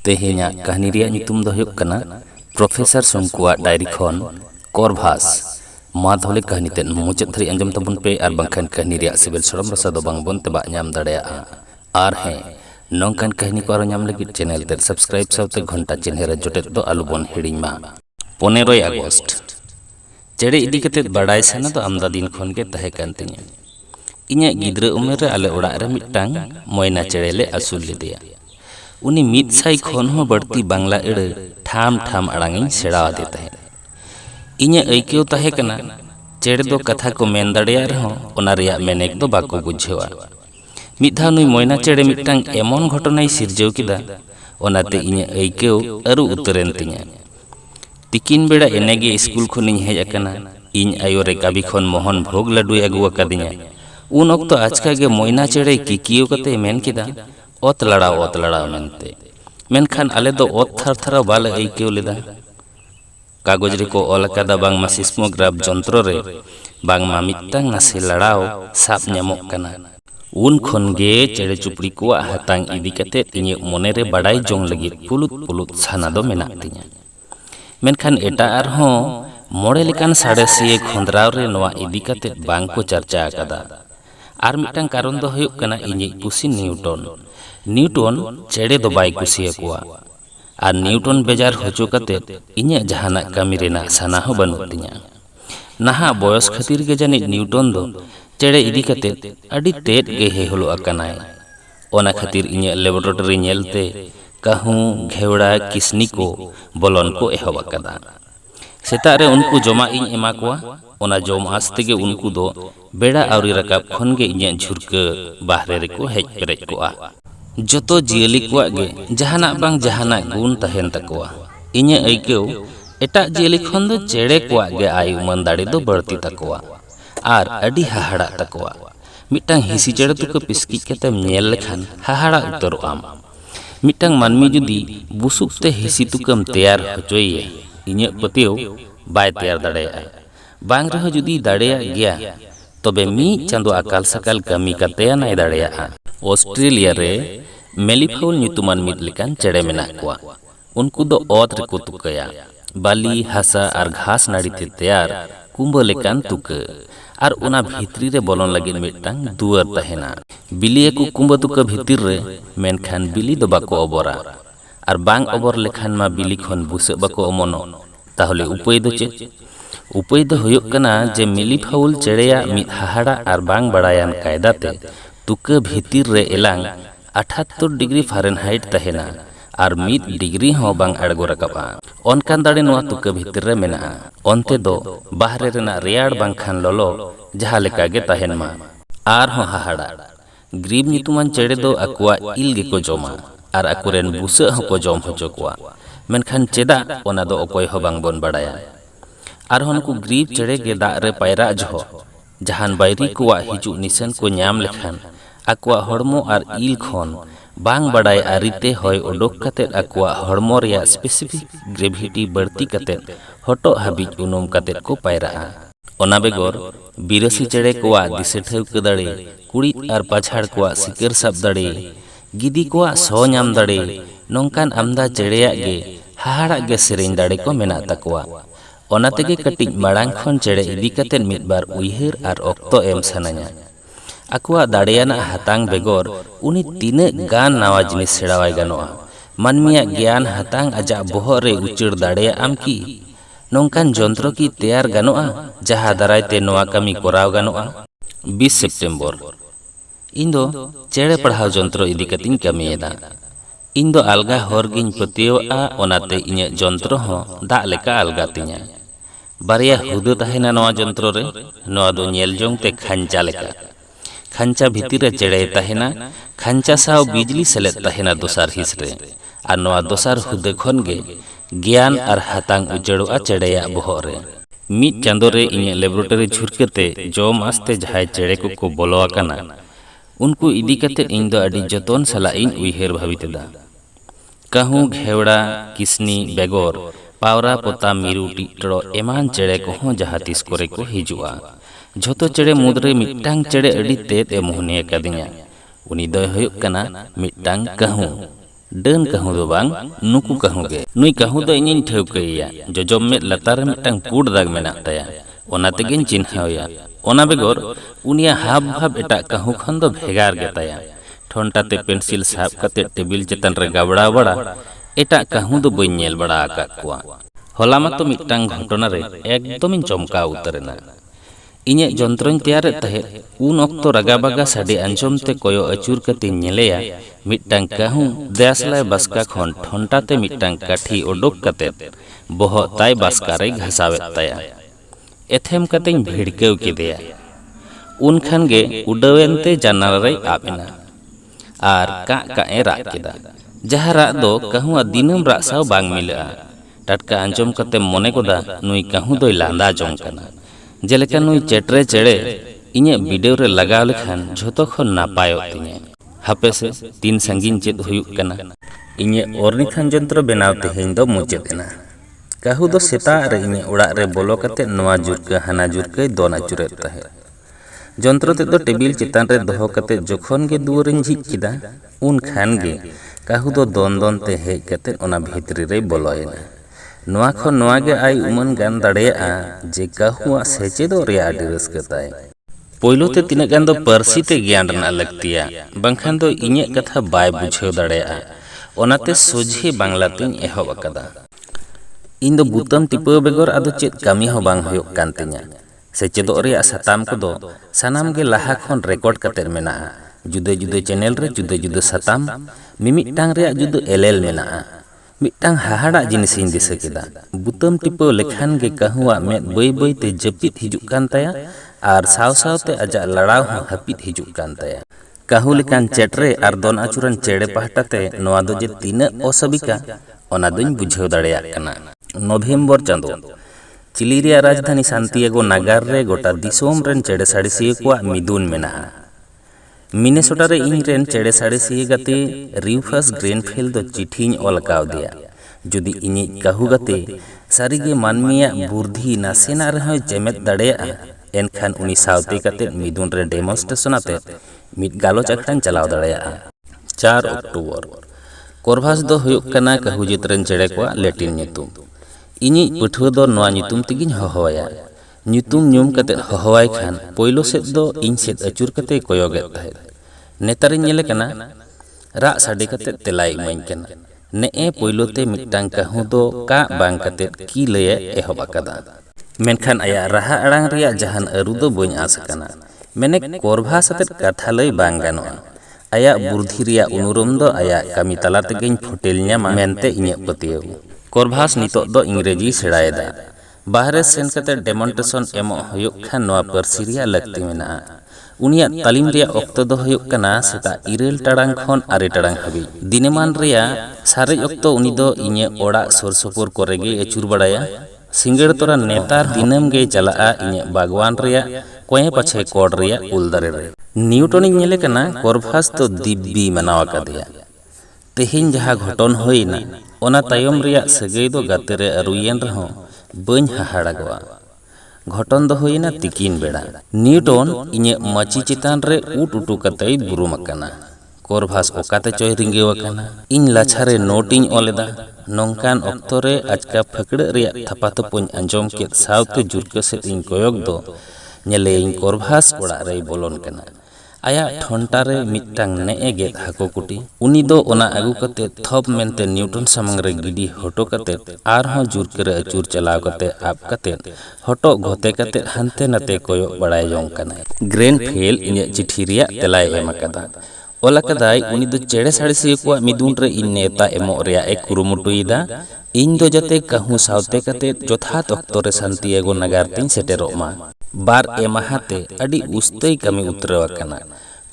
ᱛᱮᱦᱮᱧᱟᱜ ᱠᱟᱹᱦᱱᱤ ᱨᱮᱭᱟᱜ ᱧᱩᱛᱩᱢ ᱫᱚ ᱦᱩᱭᱩᱜ ᱠᱟᱱᱟ ᱯᱨᱚᱯᱷᱮᱥᱚᱨ ᱥᱚᱝᱠᱩᱣᱟᱜ ᱰᱟᱭᱨᱤ ᱠᱷᱚᱱ ᱠᱚᱨᱵᱷᱟᱥ ᱢᱟ ᱛᱟᱦᱚᱞᱮ ᱠᱟᱹᱦᱱᱤ ᱛᱮᱫ ᱢᱩᱪᱟᱹᱫ ᱫᱷᱟᱹᱨᱤᱡ ᱟᱸᱡᱚᱢ ᱛᱟᱵᱚᱱ ᱯᱮ ᱟᱨ ᱵᱟᱝᱠᱷᱟᱱ ᱠᱟᱹᱦᱱᱤ ᱨᱮᱭᱟᱜ ᱥᱤᱵᱤᱞ ᱥᱚᱲᱚᱢ ᱨᱟᱥᱟ ᱫᱚ ᱵᱟᱝ ᱵᱚᱱ ᱛᱮᱵᱟᱜ ᱧᱟᱢ ᱫᱟᱲᱮᱭᱟᱜᱼᱟ ᱟᱨ ᱦᱮᱸ ᱱᱚᱝᱠᱟᱱ ᱠᱟᱹᱦᱱᱤ ᱠᱚ ᱟᱨᱚ ᱧᱟᱢ ᱞᱟᱹᱜᱤᱫ ᱪᱮᱱᱮᱞ ᱛᱮᱫ ᱥᱟᱵᱥᱠᱨᱟᱭᱤᱵᱽ ᱥᱟᱶᱛᱮ ᱜᱷᱚᱱᱴᱟ ᱪᱤᱱᱦᱟᱹ ᱨᱮ ᱡᱚᱴᱮᱫ ᱫᱚ ᱟᱞᱚ ᱵᱚᱱ ᱦᱤᱲᱤᱧ ᱢᱟ ᱯᱚᱱᱮᱨᱚᱭ ᱟᱜᱚᱥᱴ ᱪᱮᱬᱮ ᱤᱫᱤ ᱠᱟᱛᱮ ᱵᱟᱲᱟᱭ ᱥᱟᱱᱟ ᱫᱚ ᱟᱢᱫᱟ ᱫᱤᱱ ᱠᱷᱚᱱ ᱜᱮ ᱛᱟᱦᱮᱸ ᱠᱟᱱ ᱛᱤᱧᱟᱹ ᱤᱧᱟᱹᱜ ᱜᱤᱫᱽᱨᱟᱹ ᱩᱢᱮᱨ ᱨᱮ ᱟᱞᱮ ᱚᱲᱟᱜ ᱨᱮ ᱢᱤᱫᱴᱟᱝ ᱢᱚᱭᱱᱟ ᱪᱮᱬᱮ ᱞᱮ ᱟᱹᱥᱩᱞ ᱞᱮᱫᱮᱭᱟ᱾ ᱩᱱᱤ ᱢᱤᱫ ᱥᱟᱭ ᱠᱷᱚᱱ ᱦᱚᱸ ᱵᱟᱹᱲᱛᱤ ᱵᱟᱝᱞᱟ ᱟᱹᱲᱟᱹ ᱴᱷᱟᱢ ᱴᱷᱟᱢ ᱟᱲᱟᱝ ᱤᱧ ᱥᱮᱬᱟ ᱟᱫᱮ ᱛᱟᱦᱮᱸᱫ᱾ ᱤᱧᱟᱹᱜ ᱟᱹᱭᱠᱟᱹᱣ ᱛᱟᱦᱮᱸ ᱠᱟᱱᱟ ᱪᱮᱬᱮ ᱫᱚ ᱠᱟᱛᱷᱟ ᱠᱚ ᱢᱮᱱ ᱫᱟᱲᱮᱭᱟᱜ ᱨᱮᱦᱚᱸ ᱚᱱᱟ ᱨᱮᱭᱟᱜ ᱢᱮᱱᱮᱠ ᱫᱚ ᱵᱟᱠᱚ ᱵᱩᱡᱷᱟᱹᱣᱟ᱾ ᱢᱤᱫ ᱫᱷᱟᱣ ᱱᱩᱭ ᱢᱚᱭᱱᱟ ᱪᱮᱬᱮ ᱢᱤᱫᱴᱟᱝ ᱮᱢᱚᱱ ᱜᱷᱚᱴᱚᱱᱟᱭ ᱥᱤᱨᱡᱟᱹᱣ ᱠᱮᱫᱟ ᱚᱱᱟᱛᱮ ᱤᱧᱟᱹᱜ ᱟᱹᱭᱠᱟᱹᱣ ᱟᱹᱨᱩ ᱩᱛᱟᱹᱨᱮᱱ ᱛᱤᱧᱟᱹ᱾ ᱛᱤᱠᱤᱱ ᱵᱮᱲᱟ ᱮᱱᱮ ᱜᱮ ᱤᱥᱠᱩᱞ ᱠᱷᱚᱱᱤᱧ ᱦᱮᱡ ᱟᱠᱟᱱᱟ᱾ ᱤᱧ ᱟᱭᱳ ᱨᱮ ᱜᱟᱵᱤ ᱠᱷᱚᱱ ᱢᱚᱦᱚᱱ ᱵᱷᱳᱜᱽ ᱞᱟᱹᱰᱩᱭ ᱟᱹᱜᱩ ᱟᱠᱟᱫᱤᱧᱟ᱾ ᱩᱱ ᱚᱠᱛᱚ ᱟᱪᱠᱟ ᱜᱮ ᱢᱚᱭᱱᱟ ᱪᱮᱬᱮᱭ ᱠᱤᱠᱤᱭᱟᱹᱣ ᱠᱟᱛᱮᱭ ᱢᱮᱱ ᱠᱮᱫᱟ, ᱚᱛ ᱞᱟᱲᱟᱣ ᱚᱛ ᱞᱟᱲᱟᱣ ᱢᱮᱱᱛᱮ᱾ ᱢᱮᱱᱠᱷᱟᱱ ᱟᱞᱮ ᱫᱚ ᱚᱛ ᱛᱷᱟᱨᱛᱷᱟᱨᱟᱣ ᱵᱟᱞᱮ ᱟᱹᱭᱠᱟᱹᱣ ᱞᱮᱫᱟ᱾ ᱠᱟᱜᱚᱡᱽ ᱨᱮᱠᱚ ᱚᱞ ᱟᱠᱟᱫᱟ ᱵᱟᱝᱢᱟ ᱥᱤᱥᱢᱳᱜᱽᱨᱟᱯᱷ ᱡᱚᱱᱛᱨᱚ ᱨᱮ ᱵᱟᱝᱢᱟ ᱢᱤᱫᱴᱟᱝ ᱱᱟᱥᱮ ᱞᱟᱲᱟᱣ ᱥᱟᱵ ᱧᱟᱢᱚᱜ ᱠᱟᱱᱟ᱾ ᱩᱱ ᱠᱷᱚᱱ ᱜᱮ ᱪᱮᱬᱮ ᱪᱩᱯᱲᱤ ᱠᱚᱣᱟᱜ ᱦᱟᱛᱟᱝ ᱤᱫᱤ ᱠᱟᱛᱮ ᱤᱧᱟᱹᱜ ᱢᱚᱱᱮ ᱨᱮ ᱵᱟᱰᱟᱭ ᱡᱚᱝ ᱞᱟᱹᱜᱤᱫ ᱯᱩᱞᱩᱫ ᱯᱩᱞᱩᱫ ᱥᱟᱱᱟ ᱫᱚ ᱢᱮᱱᱟᱜ ᱛᱤᱧᱟᱹ᱾ ᱢᱮᱱᱠᱷᱟᱱ ᱮᱴᱟᱜ ᱟᱨ ᱦᱚᱸ ᱢᱚᱬᱮ ᱞᱮᱠᱟᱱ ᱥᱟᱬᱮᱥᱤᱭᱟᱹ ᱠᱷᱚᱸᱫᱽᱨᱟᱣ ᱨᱮ ᱱᱚᱣᱟ ᱤᱫᱤ ᱠᱟᱛᱮ ᱵᱟᱝ ᱠᱚ ᱪᱟᱨᱪᱟ ᱟᱠᱟᱫᱟ᱾ ᱟᱨ ᱢᱤᱫᱴᱟᱝ ᱠᱟᱨᱚᱱ ᱫᱚ ᱦᱩᱭᱩᱜ ᱠᱟᱱᱟ ᱤᱧᱤᱡ ᱠᱩᱥᱤ ᱱᱤᱭᱩᱴᱚᱱ᱾ ᱱᱤᱭᱩᱴᱚᱱ ᱪᱮᱬᱮ ᱫᱚ ᱵᱟᱭ ᱠᱩᱥᱤ ᱟᱠᱚᱣᱟ᱾ ᱟᱨ ᱱᱤᱭᱩᱴᱚᱱ ᱵᱮᱡᱟᱨ ᱦᱚᱪᱚ ᱠᱟᱛᱮ ᱤᱧᱟᱜ ᱡᱟᱦᱟᱱᱟᱜ ᱠᱟᱹᱢᱤ ᱨᱮᱱᱟᱜ ᱥᱟᱱᱟ ᱦᱚᱸ ᱵᱟᱹᱱᱩᱜ ᱛᱤᱧᱟ᱾ ᱱᱟᱦᱟᱜ ᱵᱚᱭᱚᱥ ᱠᱷᱟᱹᱛᱤᱨ ᱜᱮ ᱡᱟᱹᱱᱤᱡ ᱱᱤᱭᱩᱴᱚᱱ ᱫᱚ ᱪᱮᱬᱮ ᱤᱫᱤ ᱠᱟᱛᱮ ᱟᱹᱰᱤ ᱛᱮᱫ ᱜᱮ ᱦᱮᱦᱚᱞᱚᱜ ᱟᱠᱟᱱᱟᱭ᱾ ᱚᱱᱟ ᱠᱷᱟᱹᱛᱤᱨ ᱤᱧᱟᱹᱜ ᱞᱮᱵᱚᱨᱮᱴᱚᱨᱤ ᱧᱮᱞᱛᱮ ᱠᱟᱹᱦᱩ, ᱜᱷᱮᱣᱲᱟ, ᱠᱤᱥᱱᱤ ᱠᱚ ᱵᱚᱞᱚᱱ ᱠᱚ ᱮᱦᱚᱵ ᱟᱠᱟᱫᱟ᱾ ᱥᱮᱛᱟᱜ ᱨᱮ ᱩᱱᱠᱩ ᱡᱚᱢᱟᱜ ᱤᱧ ᱮᱢᱟ ᱠᱚᱣᱟ᱾ ᱚᱱᱟ ᱡᱚᱢ ᱟᱸᱥ ᱛᱮᱜᱮ ᱩᱱᱠᱩ ᱫᱚ ᱵᱮᱲᱟ ᱟᱹᱣᱨᱤ ᱨᱟᱠᱟᱵ ᱠᱷᱚᱱ ᱜᱮ ᱤᱧᱟᱹᱜ ᱡᱷᱩᱨᱠᱟᱹ ᱵᱟᱦᱨᱮ ᱨᱮᱠᱚ ᱦᱮᱡ ᱯᱮᱨᱮᱡ ᱠᱚᱜᱼᱟ᱾ ᱡᱚᱛᱚ ᱡᱤᱭᱟᱹᱞᱤ ᱠᱚᱣᱟᱜ ᱜᱮ ᱡᱟᱦᱟᱱᱟᱜ ᱵᱟᱝ ᱡᱟᱦᱟᱱᱟᱜ ᱜᱩᱱ ᱛᱟᱦᱮᱱ ᱛᱟᱠᱚᱣᱟ᱾ ᱤᱧᱟᱹᱜ ᱟᱹᱭᱠᱟᱹᱣ, ᱮᱴᱟᱜ ᱡᱤᱭᱟᱹᱞᱤ ᱠᱷᱚᱱ ᱫᱚ ᱪᱮᱬᱮ ᱠᱚᱣᱟᱜ ᱜᱮ ᱟᱭ ᱩᱢᱟᱹᱱ ᱫᱟᱲᱮ ᱫᱚ ᱵᱟᱹᱲᱛᱤ ᱛᱟᱠᱚᱣᱟ ᱟᱨ ᱟᱹᱰᱤ ᱦᱟᱦᱟᱲᱟᱜ ᱛᱟᱠᱚᱣᱟ᱾ ᱢᱤᱫᱴᱟᱝ ᱦᱤᱸᱥᱤ ᱪᱮᱬᱮ ᱛᱩᱠᱟᱹ ᱯᱤᱥᱠᱤᱡ ᱠᱟᱛᱮᱢ ᱧᱮᱞ ᱞᱮᱠᱷᱟᱱ ᱦᱟᱦᱟᱲᱟ ᱩᱛᱟᱹᱨᱚᱜ ᱟᱢ᱾ ᱢᱤᱫᱴᱟᱝ ᱢᱟᱹᱱᱢᱤ ᱡᱩᱫᱤ ᱵᱩᱥᱩᱵ ᱛᱮ ᱦᱤᱸᱥᱤ ᱛᱩᱠᱟᱹᱢ ᱛᱮᱭᱟᱨ ᱦᱚᱪᱚᱭᱮᱭᱟ ᱤᱧᱟᱹᱜ ᱯᱟᱹᱛᱭᱟᱹᱣ ᱵᱟᱭ ᱛᱮᱭᱟᱨ ᱫᱟᱲᱮᱭᱟᱜᱼᱟ᱾ ᱵᱟᱝ ᱨᱮᱦᱚᱸ ᱡᱩᱫᱤᱭ ᱫᱟᱲᱮᱭᱟᱜ ᱜᱮᱭᱟ ᱛᱚᱵᱮ ᱢᱤᱫ ᱪᱟᱸᱫᱚ ᱟᱠᱟᱞ ᱥᱟᱠᱟᱞ ᱠᱟᱹᱢᱤ ᱠᱟᱛᱮᱭᱟᱱᱟᱭ ᱫᱟᱲᱮᱭᱟᱜᱼᱟ᱾ ᱚᱥᱴᱨᱮᱞᱤᱭᱟ ᱨᱮ ᱢᱮᱞᱤᱯᱷᱟᱣᱩᱞ ᱧᱩᱛᱩᱢᱟᱱ ᱢᱤᱫ ᱞᱮᱠᱟᱱ ᱪᱮᱬᱮ ᱢᱮᱱᱟᱜ ᱠᱚᱣᱟ᱾ ᱩᱱᱠᱩ ᱫᱚ ᱚᱛ ᱨᱮ ᱠᱚ ᱛᱩᱠᱟᱹᱭᱟ, ᱵᱟᱞᱤ, ᱦᱟᱥᱟ ᱟᱨ ᱜᱷᱟᱥ ᱱᱟᱹᱲᱤ ᱛᱮ ᱛᱮᱭᱟᱨ ᱠᱩᱸᱵᱟᱹ ᱞᱮᱠᱟᱱ ᱛᱩᱠᱟᱹ, ᱟᱨ ᱚᱱᱟ ᱵᱷᱤᱛᱨᱤ ᱨᱮ ᱵᱚᱞᱚᱱ ᱞᱟᱹᱜᱤᱫ ᱢᱤᱫᱴᱟᱝ ᱫᱩᱣᱟᱹᱨ ᱛᱟᱦᱮᱸᱱᱟ᱾ ᱵᱤᱞᱤᱭᱟ ᱠᱚ ᱠᱩᱸᱵᱟᱹ ᱛᱩᱠᱟᱹ ᱵᱷᱤᱛᱤᱨ ᱨᱮ, ᱢᱮᱱᱠᱷᱟᱱ ᱵᱤᱞᱤ ᱫᱚ ᱵᱟᱠᱚ ᱚᱵᱚᱨᱟ᱾ ᱟᱨ ᱵᱟᱝ ᱚᱵᱚᱨ ᱞᱮᱠᱷᱟᱱ ᱢᱟ ᱵᱤᱞᱤ ᱠᱷᱚᱱ ᱵᱩᱥᱟᱹᱜ ᱵᱟᱠᱚ ᱚᱢᱚᱱᱚᱜ᱾ ᱛᱟᱦᱚᱞᱮ ᱩᱯᱟᱹᱭ ᱫᱚ ᱪᱮᱫ? ᱩᱯᱟᱹᱭ ᱫᱚ ᱦᱳᱭᱳᱜ ᱠᱟᱱᱟ ᱡᱮ ᱢᱤᱞᱤᱯᱷᱟᱣᱩᱞ ᱪᱮᱬᱮᱭᱟᱜ ᱢᱤᱫ ᱦᱟᱦᱟᱲᱟᱜ ᱟᱨ ᱵᱟᱝ ᱵᱟᱲᱟᱭᱟᱱ ᱠᱟᱭᱫᱟ ᱛᱮ ᱛᱩᱠᱟᱹ ᱵᱷᱤᱛᱤᱨ ᱨᱮ ᱮᱞᱟᱝ ᱟᱴᱷᱟᱛᱛᱳᱨ ᱰᱤᱜᱽᱨᱤ ᱯᱷᱟᱨᱮᱱᱦᱟᱭᱤᱴ ᱛᱟᱦᱮᱸᱱᱟ ᱟᱨ ᱢᱤᱫ ᱰᱤᱜᱽᱨᱤ ᱦᱚᱸ ᱵᱟᱝ ᱟᱬᱜᱚ ᱨᱟᱠᱟᱵᱼᱟ᱾ ᱚᱱᱠᱟᱱ ᱫᱟᱲᱮ ᱱᱚᱶᱟ ᱛᱩᱠᱟᱹ ᱵᱷᱤᱛᱤᱨ ᱨᱮ ᱢᱮᱱᱟᱜᱼᱟ, ᱚᱱᱛᱮ ᱫᱚ ᱵᱟᱦᱨᱮ ᱨᱮᱱᱟᱜ ᱨᱮᱭᱟᱲ ᱵᱟᱝᱠᱷᱟᱱ ᱞᱚᱞᱚ ᱡᱟᱦᱟᱸ ᱞᱮᱠᱟ ᱜᱮ ᱛᱟᱦᱮᱸᱱ ᱢᱟ᱾ ᱟᱨ ᱦᱚᱸ ᱦᱟᱦᱟᱲᱟ! ᱜᱨᱤᱵᱽ ᱧᱩᱛᱩᱢᱟᱱ ᱪᱮᱬᱮ ᱫᱚ ᱟᱠᱚᱣᱟᱜ ᱤᱞ ᱜᱮᱠᱚ ᱡᱚᱢᱟ ᱟᱨ ᱟᱠᱚ ᱨᱮᱱ ᱵᱩᱥᱟᱹᱜ ᱦᱚᱸ ᱠᱚ ᱡᱚᱢ ᱦᱚᱪᱚ ᱠᱚᱣᱟ᱾ ᱢᱮᱱᱠᱷᱟᱱ ᱪᱮᱫᱟᱜ ᱚᱱᱟ ᱫᱚ ᱚᱠᱚᱭ ᱦᱚᱸ ᱵᱟᱝ ᱵᱚᱱ ᱵᱟᱰᱟᱭᱟ᱾ ᱟᱨ ᱦᱚᱸ ᱱᱩᱠᱩ ᱜᱨᱤᱵᱽ ᱪᱮᱬᱮ ᱜᱮ ᱫᱟᱜ ᱨᱮ ᱯᱟᱭᱨᱟᱜ ᱡᱚᱦᱚᱜ ᱡᱟᱦᱟᱱ ᱵᱟᱹᱭᱨᱤ ᱠᱚᱣᱟᱜ ᱦᱤᱡᱩᱜ ᱱᱤᱥᱟᱹᱱ ᱠᱚ ᱧᱟᱢ ᱞᱮᱠᱷᱟᱱ ᱟᱠᱚᱣᱟᱜ ᱦᱚᱲᱢᱚ ᱟᱨ ᱤᱞ ᱠᱷᱚᱱ ᱵᱟᱝ ᱵᱟᱰᱟᱭ ᱟᱹᱨᱤ ᱛᱮ ᱦᱚᱭ ᱚᱰᱚᱠ ᱠᱟᱛᱮ ᱟᱠᱚᱣᱟᱜ ᱦᱚᱲᱢᱚ ᱨᱮᱭᱟᱜ ᱥᱯᱮᱥᱤᱯᱷᱤᱠ ᱜᱨᱮᱵᱷᱤᱴᱤ ᱵᱟᱹᱲᱛᱤ ᱠᱟᱛᱮ ᱦᱚᱴᱚᱜ ᱦᱟᱹᱵᱤᱡ ᱩᱱᱩᱢ ᱠᱟᱛᱮ ᱠᱚ ᱯᱟᱭᱨᱟᱜᱼᱟ᱾ ᱚᱱᱟ ᱵᱮᱜᱚᱨ, ᱵᱤᱨᱟᱹᱥᱤ ᱪᱮᱬᱮ ᱠᱚᱣᱟᱜ ᱫᱤᱥᱟᱹ ᱴᱷᱟᱹᱣᱠᱟᱹ ᱫᱟᱲᱮ, ᱠᱩᱲᱤᱫ ᱟᱨ ᱯᱟᱡᱷᱟᱲ ᱠᱚᱣᱟᱜ ᱥᱤᱠᱟᱹᱨ ᱥᱟᱵ ᱫᱟᱲᱮ, ᱜᱤᱫᱤ ᱠᱚᱣᱟᱜ ᱥᱚ ᱧᱟᱢ ᱫᱟᱲᱮ, ᱱᱚᱝᱠᱟᱱ ᱟᱢᱫᱟ ᱪᱮᱬᱮᱭᱟᱜ ᱜᱮ ᱦᱟᱦᱟᱲᱟᱜ ᱜᱮ ᱥᱮᱨᱮᱧ ᱫᱟᱲᱮ ᱠᱚ ᱢᱮᱱᱟᱜ ᱛᱟᱠᱚᱣᱟ᱾ ᱚᱱᱟ ᱛᱮᱜᱮ ᱠᱟᱹᱴᱤᱡ ᱢᱟᱲᱟᱝ ᱠᱷᱚᱱ ᱪᱮᱬᱮ ᱤᱫᱤ ᱠᱟᱛᱮ ᱢᱤᱫ ᱵᱟᱨ ᱩᱭᱦᱟᱹᱨ ᱟᱨ ᱚᱠᱛᱚ ᱮᱢ ᱥᱟᱱᱟᱧᱟ᱾ ᱟᱠᱚᱣᱟᱜ ᱫᱟᱲᱮᱭᱟᱱᱟᱜ ᱦᱟᱛᱟᱝ ᱵᱮᱜᱚᱨ ᱩᱱᱤ ᱛᱤᱱᱟᱹᱜ ᱜᱟᱱ ᱱᱟᱣᱟ ᱡᱤᱱᱤᱥ ᱥᱮᱬᱟᱣᱟᱭ ᱜᱟᱱᱚᱜᱼᱟ? ᱢᱟᱹᱱᱢᱤᱭᱟᱜ ᱜᱮᱭᱟᱱ ᱦᱟᱛᱟᱝ ᱟᱡᱟᱜ ᱵᱚᱦᱚᱜ ᱨᱮᱭ ᱩᱪᱟᱹᱲ ᱫᱟᱲᱮᱭᱟᱜ ᱟᱢ ᱠᱤ? ᱱᱚᱝᱠᱟᱱ ᱡᱚᱱᱛᱨᱚ ᱠᱤ ᱛᱮᱭᱟᱨ ᱜᱟᱱᱚᱜᱼᱟ ᱡᱟᱦᱟᱸ ᱫᱟᱨᱟᱭ ᱛᱮ ᱱᱚᱣᱟ ᱠᱟᱹᱢᱤ ᱠᱚᱨᱟᱣ ᱜᱟᱱᱚᱜᱼᱟ? ᱵᱤᱥ ᱥᱮᱯᱴᱮᱢᱵᱚᱨ᱾ ᱤᱧ ᱫᱚ ᱪᱮᱬᱮ ᱯᱟᱲᱦᱟᱣ ᱡᱚᱱᱛᱨᱚ ᱤᱫᱤ ᱠᱟᱛᱮᱧ ᱠᱟᱹᱢᱤ ᱮᱫᱟ᱾ ᱤᱧ ᱫᱚ ᱟᱞᱜᱟ ᱦᱚᱨ ᱜᱮᱧ ᱯᱟᱹᱛᱭᱟᱹᱣᱟᱜᱼᱟ ᱚᱱᱟᱛᱮ ᱤᱧᱟᱹᱜ ᱡᱚᱱᱛᱨᱚ ᱦᱚᱸ ᱫᱟᱜ ᱞᱮᱠᱟ ᱟᱞᱜᱟ ᱛᱤᱧᱟ᱾ ᱵᱟᱨᱭᱟ ᱦᱩᱫᱟᱹ ᱛᱟᱦᱮᱸᱱᱟ ᱱᱚᱶᱟ ᱡᱚᱱᱛᱨᱚ ᱨᱮ᱾ ᱱᱚᱶᱟ ᱫᱚ ᱧᱮᱞ ᱡᱚᱝ ᱛᱮ ᱠᱷᱟᱧᱪᱟ ᱞᱮᱠᱟ᱾ ᱠᱷᱟᱧᱪᱟ ᱵᱷᱤᱛᱤᱨ ᱨᱮ ᱪᱮᱬᱮᱭ ᱛᱟᱦᱮᱸᱱᱟ᱾ ᱠᱷᱟᱧᱪᱟ ᱥᱟᱶ ᱵᱤᱡᱽᱞᱤ ᱥᱮᱞᱮᱫ ᱛᱟᱦᱮᱸᱱᱟ ᱫᱚᱥᱟᱨ ᱦᱤᱸᱥ ᱨᱮ᱾ ᱟᱨ ᱱᱚᱣᱟ ᱫᱚᱥᱟᱨ ᱦᱩᱫᱟᱹ ᱠᱷᱚᱱ ᱜᱮ ᱜᱮᱭᱟᱱ ᱟᱨ ᱦᱟᱛᱟᱝ ᱩᱪᱟᱹᱲᱚᱜᱼᱟ ᱪᱮᱬᱮ ᱭᱟᱜ ᱵᱚᱦᱚᱜ ᱨᱮ᱾ ᱢᱤᱫ ᱪᱟᱸᱫᱚ ᱨᱮ ᱤᱧᱟᱹᱜ ᱞᱮᱵᱽᱨᱚᱴᱚᱨᱤ ᱡᱷᱩᱨᱠᱟᱹ ᱛᱮ ᱡᱚᱢ ᱟᱸᱥ ᱛᱮ ᱡᱟᱦᱟᱸᱭ ᱪᱮᱬᱮ ᱠᱚ ᱠᱚ ᱵᱚᱞᱚ ᱟᱠᱟᱱᱟ, ᱩᱱᱠᱩ ᱤᱫᱤ ᱠᱟᱛᱮ ᱤᱧ ᱫᱚ ᱟᱹᱰᱤ ᱡᱚᱛᱚᱱ ᱥᱟᱞᱟᱜ ᱤᱧ ᱩᱭᱦᱟᱹᱨ ᱵᱷᱟᱹᱵᱤᱛ ᱮᱫᱟ᱾ ᱠᱟᱺᱦᱩ, ᱜᱷᱮᱣᱲᱟ, ᱠᱤᱥᱱᱤ ᱵᱮᱜᱚᱨ, ᱯᱟᱣᱨᱟ, ᱯᱚᱛᱟᱢ, ᱢᱤᱨᱩ, ᱴᱤᱜᱼᱴᱚᱲᱚᱜ ᱮᱢᱟᱱ ᱪᱮᱬᱮ ᱠᱚ ᱦᱚᱸ ᱡᱟᱦᱟᱸ ᱛᱤᱥ ᱠᱚᱨᱮ ᱠᱚ ᱦᱤᱡᱩᱜᱼᱟ᱾ ᱡᱷᱚᱛᱚ ᱪᱮᱬᱮ ᱢᱩᱫᱽ ᱨᱮ ᱢᱤᱫᱴᱟᱹᱝ ᱪᱮᱬᱮ ᱟᱹᱰᱤ ᱛᱮᱫ ᱮ ᱢᱩᱦᱱᱤ ᱟᱠᱟᱫᱤᱧᱟ᱾ ᱩᱱᱤ ᱫᱚᱭ ᱦᱩᱭᱩᱜ ᱠᱟᱱᱟ ᱢᱤᱫᱴᱟᱝ ᱠᱟᱹᱦᱩ᱾ ᱰᱟᱹᱱ ᱠᱟᱹᱦᱩ ᱫᱚ ᱵᱟᱝ, ᱱᱩᱠᱩ ᱠᱟᱹᱦᱩ ᱜᱮ᱾ ᱱᱩᱭ ᱠᱟᱹᱦᱩ ᱫᱚ ᱤᱧᱤᱧ ᱴᱷᱟᱹᱣᱠᱟᱹ ᱮᱭᱟ᱾ ᱡᱚᱡᱚᱢ ᱢᱮᱫ ᱞᱟᱛᱟᱨ ᱨᱮ ᱢᱤᱫᱴᱟᱝ ᱯᱩᱸᱰ ᱫᱟᱜᱽ ᱢᱮᱱᱟᱜ ᱛᱟᱭᱟ᱾ ᱚᱱᱟ ᱛᱮᱜᱮᱧ ᱪᱤᱱᱦᱟᱹᱣ ᱮᱭᱟ᱾ ᱚᱱᱟ ᱵᱮᱜᱚᱨ, ᱩᱱᱤᱭᱟᱜ ᱦᱟᱵᱽ ᱵᱷᱟᱵᱽ ᱮᱴᱟᱜ ᱠᱟᱹᱦᱩ ᱠᱷᱚᱱ ᱫᱚ ᱵᱷᱮᱜᱟᱨ ᱜᱮ ᱛᱟᱭᱟ᱾ ᱴᱷᱚᱱᱴᱟ ᱛᱮ ᱯᱮᱱᱥᱤᱞ ᱥᱟᱵ ᱠᱟᱛᱮ ᱴᱮᱵᱤᱞ ᱪᱮᱛᱟᱱ ᱨᱮ ᱜᱟᱵᱽᱲᱟᱣ ᱵᱟᱲᱟ᱾ ᱮᱴᱟᱜ ᱠᱟᱹᱦᱩ ᱫᱚ ᱵᱟᱹᱧ ᱧᱮᱞ ᱵᱟᱲᱟ ᱟᱠᱟᱫ ᱠᱚᱣᱟ᱾ ᱦᱚᱞᱟ ᱢᱟᱛᱚ ᱢᱤᱫᱴᱟᱝ ᱜᱷᱚᱴᱚᱱᱟ ᱨᱮ ᱮᱠᱫᱚᱢᱤᱧ ᱪᱚᱢᱠᱟᱣ ᱩᱛᱟᱹᱨ ᱮᱱᱟ᱾ ᱤᱧᱟᱹᱜ ᱡᱚᱱᱛᱨᱚᱧ ᱛᱮᱭᱟᱨᱮᱫ ᱛᱟᱦᱮᱸᱫ ᱩᱱ ᱚᱠᱛᱚ ᱨᱟᱜᱟ ᱵᱟᱜᱟ ᱥᱟᱰᱮ ᱟᱸᱡᱚᱢ ᱛᱮ ᱠᱚᱭᱚᱜ ᱟᱹᱪᱩᱨ ᱠᱟᱛᱮᱧ ᱧᱮᱞᱮᱭᱟ ᱢᱤᱫᱴᱟᱝ ᱠᱟᱹᱦᱩ ᱫᱮᱭᱟᱥᱞᱟᱭ ᱵᱟᱥᱠᱟ ᱠᱷᱚᱱ ᱴᱷᱚᱱᱴᱟ ᱛᱮ ᱢᱤᱫᱴᱟᱝ ᱠᱟᱹᱴᱷᱤ ᱚᱰᱚᱠ ᱠᱟᱛᱮ ᱵᱚᱦᱚᱜ ᱛᱟᱭ ᱵᱟᱥᱠᱟ ᱨᱮᱭ ᱜᱷᱟᱥᱟᱣ ᱮᱫ ᱛᱟᱭᱟ᱾ ᱮᱛᱷᱮᱢ ᱠᱟᱛᱮᱧ ᱵᱷᱤᱲᱠᱟᱹᱣ ᱠᱮᱫᱮᱭᱟ᱾ ᱩᱱ ᱠᱷᱟᱱ ᱜᱮ ᱩᱰᱟᱹᱣ ᱮᱱᱛᱮ ᱡᱟᱱᱟᱞᱟ ᱨᱮᱭ ᱟᱵ ᱮᱱᱟ᱾ ᱟᱨ ᱠᱟᱸᱜ ᱠᱟᱸᱜ ᱮ ᱨᱟᱜ ᱠᱮᱫᱟ᱾ ᱡᱟᱦᱟᱸ ᱨᱟᱜ ᱫᱚ ᱠᱟᱹᱦᱩ ᱟᱜ ᱫᱤᱱᱟᱹᱢ ᱨᱟᱜ ᱥᱟᱶ ᱵᱟᱝ ᱢᱤᱞᱟᱹᱜᱼᱟ᱾ ᱴᱟᱴᱠᱟ ᱟᱸᱡᱚᱢ ᱠᱟᱛᱮᱢ ᱢᱚᱱᱮ ᱜᱚᱫᱟ ᱱᱩᱭ ᱠᱟᱹᱦᱩ ᱫᱚᱭ ᱞᱟᱸᱫᱟ ᱡᱚᱝ ᱠᱟᱱᱟ᱾ ᱡᱮᱞᱮᱠᱟ ᱱᱩᱭ ᱪᱮᱴᱨᱮ ᱪᱮᱬᱮ ᱤᱧᱟᱹᱜ ᱵᱤᱰᱟᱹᱣ ᱨᱮ ᱞᱟᱜᱟᱣ ᱞᱮᱠᱷᱟᱱ ᱡᱷᱚᱛᱚ ᱠᱷᱚᱱ ᱱᱟᱯᱟᱭᱚᱜ ᱛᱤᱧᱟᱹ᱾ ᱦᱟᱯᱮ ᱥᱮ ᱛᱤᱱ ᱥᱟᱺᱜᱤᱧ ᱪᱮᱫ ᱦᱩᱭᱩᱜ ᱠᱟᱱᱟ᱾ ᱤᱧᱟᱹᱜ ᱚᱨᱱᱤᱛᱷᱟᱱ ᱡᱚᱱᱛᱨᱚ ᱵᱮᱱᱟᱣ ᱛᱮᱦᱮᱧ ᱫᱚ ᱢᱩᱪᱟᱹᱫ ᱮᱱᱟ᱾ ᱠᱟᱹᱦᱩ ᱫᱚ ᱥᱮᱛᱟᱜ ᱨᱮ ᱤᱧᱟᱹᱜ ᱚᱲᱟᱜ ᱨᱮ ᱵᱚᱞᱚ ᱠᱟᱛᱮ ᱱᱚᱶᱟ ᱡᱩᱨᱠᱟᱹ ᱦᱟᱱᱟ ᱡᱩᱨᱠᱟᱹᱭ ᱫᱚᱱ ᱟᱹᱪᱩᱨᱮᱫ ᱛᱟᱦᱮᱸᱫ᱾ ᱡᱚᱱᱛᱨᱚ ᱛᱮᱫ ᱫᱚ ᱴᱮᱵᱤᱞ ᱪᱮᱛᱟᱱ ᱨᱮ ᱫᱚᱦᱚ ᱠᱟᱛᱮ ᱡᱚᱠᱷᱚᱱ ᱜᱮ ᱫᱩᱣᱟᱹᱨ ᱤᱧ ᱡᱷᱤᱡ ᱠᱮᱫᱟ ᱩᱱ ᱠᱷᱟᱱ ᱜᱮ ᱠᱟᱹᱦᱩ ᱫᱚ ᱫᱚᱱ ᱫᱚᱱ ᱛᱮ ᱦᱮᱡ ᱠᱟᱛᱮ ᱚᱱᱟ ᱵᱷᱤᱛᱨᱤ ᱨᱮᱭ ᱵᱚᱞᱚ ᱮᱱᱟ᱾ ᱱᱚᱶᱟ ᱠᱷᱚᱱ ᱱᱚᱶᱟ ᱜᱮ ᱟᱭ ᱩᱢᱟᱹᱱ ᱜᱟᱱ ᱫᱟᱲᱮᱭᱟᱜᱼᱟ ᱡᱮ ᱠᱟᱹᱦᱩ ᱟᱜ ᱥᱮᱪᱮᱫᱚᱜ ᱨᱮᱭᱟᱜ ᱟᱹᱰᱤ ᱨᱟᱹᱥᱠᱟᱹ ᱛᱟᱭ᱾ ᱯᱳᱭᱞᱳ ᱛᱮ ᱛᱤᱱᱟᱹᱜ ᱜᱟᱱ ᱫᱚ ᱯᱟᱹᱨᱥᱤ ᱛᱮ ᱜᱮᱭᱟᱱ ᱨᱮᱱᱟᱜ ᱞᱟᱹᱠᱛᱤᱭᱟ ᱵᱟᱝᱠᱷᱟᱱ ᱫᱚ ᱤᱧᱟᱹᱜ ᱠᱟᱛᱷᱟ ᱵᱟᱭ ᱵᱩᱡᱷᱟᱹᱣ ᱫᱟᱲᱮᱭᱟᱜᱼᱟ ᱚᱱᱟᱛᱮ ᱥᱚᱡᱷᱮ ᱵᱟᱝᱞᱟ ᱛᱮᱧ ᱮᱦᱚᱵ ᱟᱠᱟᱫᱟ᱾ ᱤᱧ ᱫᱚ ᱵᱩᱛᱟᱹᱢ ᱴᱤᱯᱟᱹᱣ ᱵᱮᱜᱚᱨ ᱟᱫᱚ ᱪᱮᱫ ᱠᱟᱹᱢᱤ ᱦᱚᱸ ᱵᱟᱝ ᱦᱩᱭᱩᱜ ᱠᱟᱱ ᱛᱤᱧᱟ᱾ ᱥᱮᱪᱮᱫᱚᱜ ᱨᱮᱭᱟᱜ ᱥᱟᱛᱟᱢ ᱠᱚᱫᱚ ᱥᱟᱱᱟᱢ ᱜᱮ ᱞᱟᱦᱟ ᱠᱷᱚᱱ ᱨᱮᱠᱚᱨᱰ ᱠᱟᱛᱮ ᱢᱮᱱᱟᱜᱼᱟ᱾ ᱡᱩᱫᱟᱹ ᱡᱩᱫᱟᱹ ᱪᱮᱱᱮᱞ ᱨᱮ ᱡᱩᱫᱟᱹ ᱡᱩᱫᱟᱹ ᱥᱟᱛᱟᱢ, ᱢᱤᱢᱤᱫᱴᱟᱝ ᱨᱮᱭᱟᱜ ᱡᱩᱫᱟᱹ ᱮᱞᱮᱞ ᱢᱮᱱᱟᱜᱼᱟ᱾ ᱢᱤᱫᱴᱟᱝ ᱦᱟᱦᱟᱲᱟᱜ ᱡᱤᱱᱤᱥ ᱤᱧ ᱫᱤᱥᱟᱹ ᱠᱮᱫᱟ, ᱵᱩᱛᱟᱹᱢ ᱴᱤᱯᱟᱹᱣ ᱞᱮᱠᱷᱟᱱ ᱜᱮ ᱠᱟᱹᱦᱩ ᱟᱜ ᱢᱮᱫ ᱵᱟᱹᱭ ᱵᱟᱹᱭ ᱛᱮ ᱡᱟᱹᱯᱤᱫ ᱦᱤᱡᱩᱜ ᱠᱟᱱ ᱛᱟᱭᱟ ᱟᱨ ᱥᱟᱶ ᱥᱟᱶᱛᱮ ᱟᱡᱟᱜ ᱞᱟᱲᱟᱣ ᱦᱚᱸ ᱦᱟᱹᱯᱤᱫ ᱦᱤᱡᱩᱜ ᱠᱟᱱ ᱛᱟᱭᱟ᱾ ᱠᱟᱹᱦᱩ ᱞᱮᱠᱟᱱ ᱪᱮᱴᱨᱮ ᱟᱨ ᱫᱚᱱ ᱟᱹᱪᱩᱨᱟᱱ ᱪᱮᱬᱮ ᱯᱟᱦᱴᱟ ᱛᱮ ᱱᱚᱶᱟ ᱫᱚ ᱡᱮ ᱛᱤᱱᱟᱹᱜ ᱚᱥᱟᱵᱤᱠᱟ ᱚᱱᱟ ᱫᱚᱧ ᱵᱩᱡᱷᱟᱹᱣ ᱫᱟᱲᱮᱭᱟᱜ ᱠᱟᱱᱟ᱾ ᱱᱚᱵᱷᱮᱢᱵᱚᱨ ᱪᱟᱸᱫᱚ᱾ ᱪᱤᱞᱤ ᱨᱮᱭᱟᱜ ᱨᱟᱡᱽᱫᱷᱟᱹᱱᱤ ᱥᱟᱱᱛᱤᱭᱟᱜᱳ ᱱᱟᱜᱟᱨ ᱨᱮ ᱜᱚᱴᱟ ᱫᱤᱥᱚᱢ ᱨᱮᱱ ᱪᱮᱬᱮ ᱥᱟᱬᱮᱥᱤᱭᱟᱹ ᱠᱚᱣᱟᱜ ᱢᱤᱫᱩᱱ ᱢᱮᱱᱟᱜᱼᱟ᱾ ᱢᱤᱱᱮᱥᱳᱴᱟ ᱨᱮ ᱤᱧ ᱨᱮᱱ ᱪᱮᱬᱮ ᱥᱟᱬᱮᱥᱤᱭᱟᱹ ᱜᱟᱛᱮ ᱨᱤᱣᱯᱷᱟᱥ ᱜᱨᱮᱱᱯᱷᱮᱞ ᱫᱚ ᱪᱤᱴᱷᱤᱧ ᱚᱞ ᱠᱟᱣᱫᱮᱭᱟ, ᱡᱩᱫᱤ ᱤᱧᱤᱡ ᱠᱟᱹᱦᱩ ᱜᱟᱛᱮ ᱥᱟᱹᱨᱤ ᱜᱮ ᱢᱟᱹᱱᱢᱤᱭᱟᱜ ᱵᱩᱨᱫᱷᱤ ᱱᱟᱥᱮᱱᱟᱜ ᱨᱮᱦᱚᱸᱭ ᱪᱮᱢᱮᱫ ᱫᱟᱲᱮᱭᱟᱜᱼᱟ, ᱮᱱᱠᱷᱟᱱ ᱩᱱᱤ ᱥᱟᱶᱛᱮ ᱠᱟᱛᱮ ᱢᱤᱫᱩᱱ ᱨᱮ ᱰᱮᱢᱚᱱᱥᱴᱨᱮᱥᱚᱱ ᱟᱛᱮ ᱢᱤᱫ ᱜᱟᱞᱚᱪ ᱟᱠᱷᱲᱟᱧ ᱪᱟᱞᱟᱣ ᱫᱟᱲᱮᱭᱟᱜᱼᱟ᱾ ᱪᱟᱨ ᱚᱠᱴᱳᱵᱚᱨ, ᱠᱚᱨᱵᱷᱟᱥ ᱫᱚ ᱦᱩᱭᱩᱜ ᱠᱟᱱᱟ ᱠᱟᱹᱦᱩ ᱡᱟᱹᱛ ᱨᱮᱱ ᱪᱮᱬᱮ ᱠᱚᱣᱟᱜ ᱞᱮᱴᱤᱱ ᱧᱩᱛᱩᱢ᱾ ᱤᱧᱤᱡ ᱯᱟᱹᱴᱷᱩᱣᱟᱹ ᱫᱚ ᱱᱚᱶᱟ ᱧᱩᱛᱩᱢ ᱛᱮᱜᱮᱧ ᱦᱚᱦᱚᱣᱟᱭᱟ᱾ ᱧᱩᱛᱩᱢ ᱧᱩᱢ ᱠᱟᱛᱮ ᱦᱚᱦᱚᱣᱟᱭ ᱠᱷᱟᱱ ᱯᱳᱭᱞᱳ ᱥᱮᱫ ᱫᱚ ᱤᱧ ᱥᱮᱫ ᱟᱹᱪᱩᱨ ᱠᱟᱛᱮᱭ ᱠᱚᱭᱚᱜ ᱮᱫ ᱛᱟᱦᱮᱸᱫ᱾ ᱱᱮᱛᱟᱨᱤᱧ ᱧᱮᱞᱮ ᱠᱟᱱᱟ ᱨᱟᱜ ᱥᱟᱰᱮ ᱠᱟᱛᱮ ᱛᱮᱞᱟᱭ ᱮᱢᱟᱹᱧ ᱠᱟᱱᱟ᱾ ᱱᱮᱜᱼᱮ ᱯᱳᱭᱞᱳ ᱛᱮ ᱢᱤᱫᱴᱟᱝ ᱠᱟᱹᱦᱩ ᱫᱚ ᱠᱟᱸᱜ ᱵᱟᱝ ᱠᱟᱛᱮ ᱠᱤ ᱞᱟᱹᱭ ᱮ ᱮᱦᱚᱵ ᱟᱠᱟᱫᱟ᱾ ᱢᱮᱱᱠᱷᱟᱱ ᱟᱭᱟᱜ ᱨᱟᱦᱟ ᱟᱲᱟᱝ ᱨᱮᱭᱟᱜ ᱡᱟᱦᱟᱱ ᱟᱹᱨᱩ ᱫᱚ ᱵᱟᱹᱧ ᱟᱸᱥ ᱟᱠᱟᱱᱟ᱾ ᱢᱮᱱᱮᱠ ᱠᱚᱨᱵᱷᱟᱥ ᱟᱛᱮ ᱠᱟᱛᱷᱟ ᱞᱟᱹᱭ ᱵᱟᱝ ᱜᱟᱱᱚᱜᱼᱟ᱾ ᱟᱭᱟᱜ ᱵᱩᱨᱫᱷᱤ ᱨᱮᱭᱟᱜ ᱩᱱᱩᱨᱩᱢ ᱫᱚ ᱟᱭᱟᱜ ᱠᱟᱹᱢᱤ ᱛᱟᱞᱟ ᱛᱮᱜᱮᱧ ᱯᱷᱚᱴᱮᱞ ᱧᱟᱢᱟ ᱢᱮᱱᱛᱮ ᱤᱧᱟᱹᱜ ᱯᱟᱹᱛᱭᱟᱹᱣ᱾ ᱠᱚᱨᱵᱷᱟᱥ ᱱᱤᱛᱚᱜ ᱫᱚ ᱤᱝᱨᱮᱡᱤᱭ ᱥᱮᱬᱟ ᱮᱫᱟ᱾ ᱵᱟᱦᱨᱮ ᱥᱮᱱ ᱠᱟᱛᱮ ᱰᱮᱢᱚᱱᱴᱨᱮᱥᱚᱱ ᱮᱢᱚᱜ ᱦᱩᱭᱩᱜ ᱠᱷᱟᱱ ᱱᱚᱶᱟ ᱯᱟᱹᱨᱥᱤ ᱨᱮᱭᱟᱜ ᱞᱟᱹᱠᱛᱤ ᱢᱮᱱᱟᱜᱼᱟ᱾ ᱩᱱᱤᱭᱟᱜ ᱛᱟᱹᱞᱤᱢ ᱨᱮᱭᱟᱜ ᱚᱠᱛᱚ ᱫᱚ ᱦᱩᱭᱩᱜ ᱠᱟᱱᱟ ᱥᱮᱛᱟᱜ ᱤᱨᱟᱹᱞ ᱴᱟᱲᱟᱝ ᱠᱷᱚᱱ ᱟᱨᱮ ᱴᱟᱲᱟᱝ ᱦᱟᱹᱵᱤᱡ᱾ ᱫᱤᱱᱟᱹᱢᱟᱱ ᱨᱮᱭᱟᱜ ᱥᱟᱨᱮᱡ ᱚᱠᱛᱚ ᱩᱱᱤ ᱫᱚ ᱤᱧᱟᱹᱜ ᱚᱲᱟᱜ ᱥᱩᱨ ᱥᱩᱯᱩᱨ ᱠᱚᱨᱮ ᱜᱮᱭ ᱟᱹᱪᱩᱨ ᱵᱟᱲᱟᱭᱟ᱾ ᱥᱤᱸᱜᱟᱹᱲ ᱛᱚᱨᱟ ᱱᱮᱛᱟᱨ ᱫᱤᱱᱟᱹᱢ ᱜᱮᱭ ᱪᱟᱞᱟᱜᱼᱟ ᱤᱧᱟᱹᱜ ᱵᱟᱜᱽᱣᱟᱱ ᱨᱮᱭᱟᱜ ᱠᱚᱸᱭᱮ ᱯᱟᱪᱷᱮ ᱠᱚᱲ ᱨᱮᱭᱟᱜ ᱩᱞ ᱫᱟᱨᱮ ᱨᱮ᱾ ᱱᱤᱣᱴᱚᱱ ᱤᱧ ᱧᱮᱞᱮ ᱠᱟᱱᱟ ᱠᱚᱨᱵᱷᱟᱥ ᱫᱚ ᱫᱤᱵᱵᱤᱭ ᱢᱟᱱᱟᱣ ᱟᱠᱟᱫᱮᱭᱟ᱾ ᱛᱮᱦᱮᱧ ᱡᱟᱦᱟᱸ ᱜᱷᱚᱴᱚᱱ ᱦᱩᱭ ᱮᱱᱟ ᱚᱱᱟ ᱛᱟᱭᱚᱢ ᱨᱮᱭᱟᱜ ᱥᱟᱹᱜᱟᱹᱭ ᱫᱚ ᱜᱟᱛᱮ ᱨᱮ ᱟᱹᱨᱩᱭ ᱮᱱ ᱨᱮᱦᱚᱸ ᱵᱟᱹᱧ ᱦᱟᱦᱟᱲᱟᱜᱚᱜᱼᱟ᱾ ᱜᱷᱚᱴᱚᱱ ᱫᱚ ᱦᱩᱭ ᱮᱱᱟ ᱛᱤᱠᱤᱱ ᱵᱮᱲᱟ᱾ ᱱᱤᱣᱴᱚᱱ ᱤᱧᱟᱹᱜ ᱢᱟᱹᱪᱤ ᱪᱮᱛᱟᱱ ᱨᱮ ᱩᱴ ᱩᱴᱩ ᱠᱟᱛᱮᱭ ᱵᱩᱨᱩᱢ ᱟᱠᱟᱱᱟ᱾ ᱠᱚᱨᱵᱷᱟᱥ ᱚᱠᱟ ᱛᱮᱪᱚᱭ ᱨᱤᱸᱜᱟᱹᱣ ᱟᱠᱟᱱᱟ᱾ ᱤᱧ ᱞᱟᱪᱷᱟ ᱨᱮ ᱱᱳᱴ ᱤᱧ ᱚᱞ ᱮᱫᱟ᱾ ᱱᱚᱝᱠᱟᱱ ᱚᱠᱛᱚ ᱨᱮ ᱟᱪᱠᱟ ᱯᱷᱟᱹᱠᱲᱟᱹᱜ ᱨᱮᱭᱟᱜ ᱛᱷᱟᱯᱟᱛᱷᱩᱯᱩᱧ ᱟᱸᱡᱚᱢ ᱠᱮᱫ ᱥᱟᱶᱛᱮ ᱡᱩᱨᱠᱟᱹ ᱥᱮᱫ ᱤᱧ ᱠᱚᱭᱚᱜ ᱫᱚ ᱧᱮᱞᱮᱭᱟᱹᱧ ᱠᱚᱨᱵᱷᱟᱥ ᱚᱲᱟᱜ ᱨᱮᱭ ᱵᱚᱞᱚᱱ ᱠᱟᱱᱟ᱾ ᱟᱭᱟᱜ ᱴᱷᱚᱱᱴᱟ ᱨᱮ ᱢᱤᱫᱴᱟᱝ ᱱᱮᱜᱼᱮ ᱜᱮᱫ ᱦᱟᱹᱠᱩ ᱠᱩᱴᱤ᱾ ᱩᱱᱤ ᱫᱚ ᱚᱱᱟ ᱟᱹᱜᱩ ᱠᱟᱛᱮ ᱛᱷᱚᱯ ᱢᱮᱱᱛᱮ ᱱᱤᱣᱴᱚᱱ ᱥᱟᱢᱟᱝ ᱨᱮ ᱜᱤᱰᱤ ᱦᱚᱴᱚ ᱠᱟᱛᱮ ᱟᱨᱦᱚᱸ ᱡᱩᱨᱠᱟᱹ ᱨᱮ ᱟᱹᱪᱩᱨ ᱪᱟᱞᱟᱣ ᱠᱟᱛᱮ ᱟᱵ ᱠᱟᱛᱮ ᱦᱚᱴᱚᱜ ᱜᱷᱚᱛᱮ ᱠᱟᱛᱮ ᱦᱟᱱᱛᱮ ᱱᱟᱛᱮ ᱠᱚᱭᱚᱜ ᱵᱟᱲᱟᱭ ᱡᱚᱝ ᱠᱟᱱᱟᱭ᱾ ᱜᱨᱮᱱᱯᱷᱮᱞ ᱤᱧᱟᱹᱜ ᱪᱤᱴᱷᱤ ᱨᱮᱭᱟᱜ ᱛᱮᱞᱟᱭ ᱮᱢ ᱟᱠᱟᱫᱟ᱾ ᱚᱞ ᱟᱠᱟᱫᱟᱭ, ᱩᱱᱤ ᱫᱚ ᱪᱮᱬᱮ ᱥᱟᱬᱮᱥᱤᱭᱟᱹ ᱠᱚᱣᱟᱜ ᱢᱤᱫᱩᱱ ᱨᱮ ᱤᱧ ᱱᱮᱣᱛᱟ ᱮᱢᱚᱜ ᱨᱮᱭᱟᱜ ᱮ ᱠᱩᱨᱩᱢᱩᱴᱩ ᱮᱫᱟ, ᱤᱧ ᱫᱚ ᱡᱟᱛᱮ ᱠᱟᱹᱦᱩ ᱥᱟᱶᱛᱮ ᱠᱟᱛᱮ ᱡᱚᱛᱷᱟᱛ ᱚᱠᱛᱚ ᱨᱮ ᱥᱟᱱᱛᱤᱭᱟᱜᱳ ᱱᱟᱜᱟᱨ ᱛᱮᱧ ᱥᱮᱴᱮᱨᱚᱜ ᱢᱟ᱾ ᱵᱟᱨ ᱮᱢᱟᱦᱟ ᱛᱮ ᱟᱹᱰᱤ ᱩᱥᱛᱟᱹᱭ ᱠᱟᱹᱢᱤ ᱩᱛᱨᱟᱹᱣ ᱟᱠᱟᱱᱟ᱾